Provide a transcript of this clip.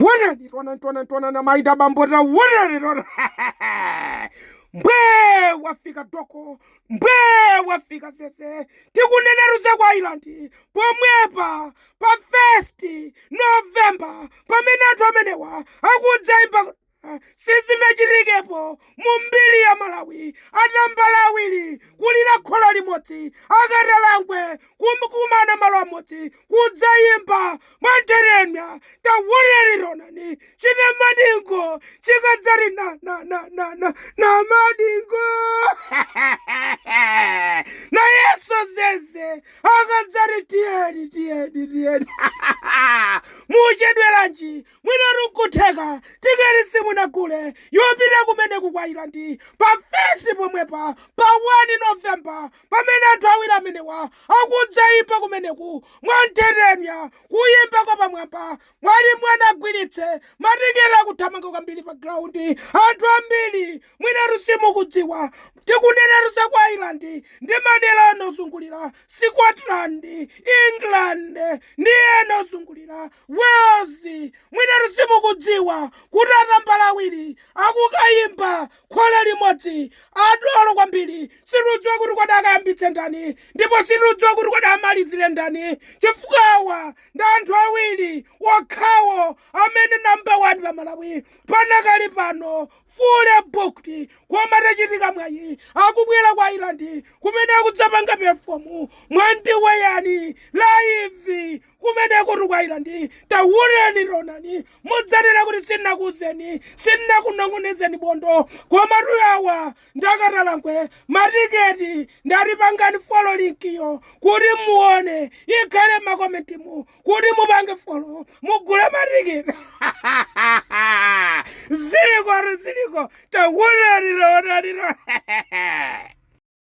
Wonani, taonani, taonani, taonani, amayi ndi abambo taonani, taonani. Mbwe wafika doko, mbwe wafika Zeze, tikunenatu za ku Ireland, pomwepa, pa first November, pamene anthu amenewa akudzaimba sizinachitikepo Mu mbiri ya Malawi, atambala awiri kulira khola limodzi, akatalangwe kukumana malo amodzi kudzayimba mwanthetemya. Tawonani taonani chi Namadingo chikadzati na na na na na Namadingo nayenso Zeze akadzati tiyeni tiyeni tiyeni muchedweranji Mwinatu nkutheka tiketi simunagule yopita kumeneku ku Ireland pa Fest pomwepa pa 1 November pamene anthu awiri amenewa akudzaimba kumeneku mwanthetemya kuyimba kwa pamwamba mwati muanagwiritse matiketi akuthamanga kwambiri pa ground anthu ambiri mwinatu simukudziwa tikunenatu za ku Ireland ndi madera ena ozungulira Scotland, England ndi ena ozungulira. Wales, mwinatu simukudziwa kuti atambala awiri akukayimba khola limodzi adolo kwambiri sitiudziwa kuti kodi akayambitse ndani ndipo sitiudziwa kuti kodi amalizire ndani chifukwa awa ndi anthu awiri okhawo amene namba 1 pa Malawi pakadali pano fully booked koma tachitika mwayi akubwera ku Ireland kumene akudzapanga pefomu mwandiweyani laivi Kumenekotu ku Ireland, Tawonani, taonani, mudzanena kuti sindinakuuzeni, sindinakunong'onezeni bondo. Komatu awa ndi akatalangwe, matiketi ndati pangani folo linkiyo kuti muone, ikhale m'makomentimu kuti mupange folo mugule matiketi. Zilikotu ziliko, tawonani, taonani, taonani.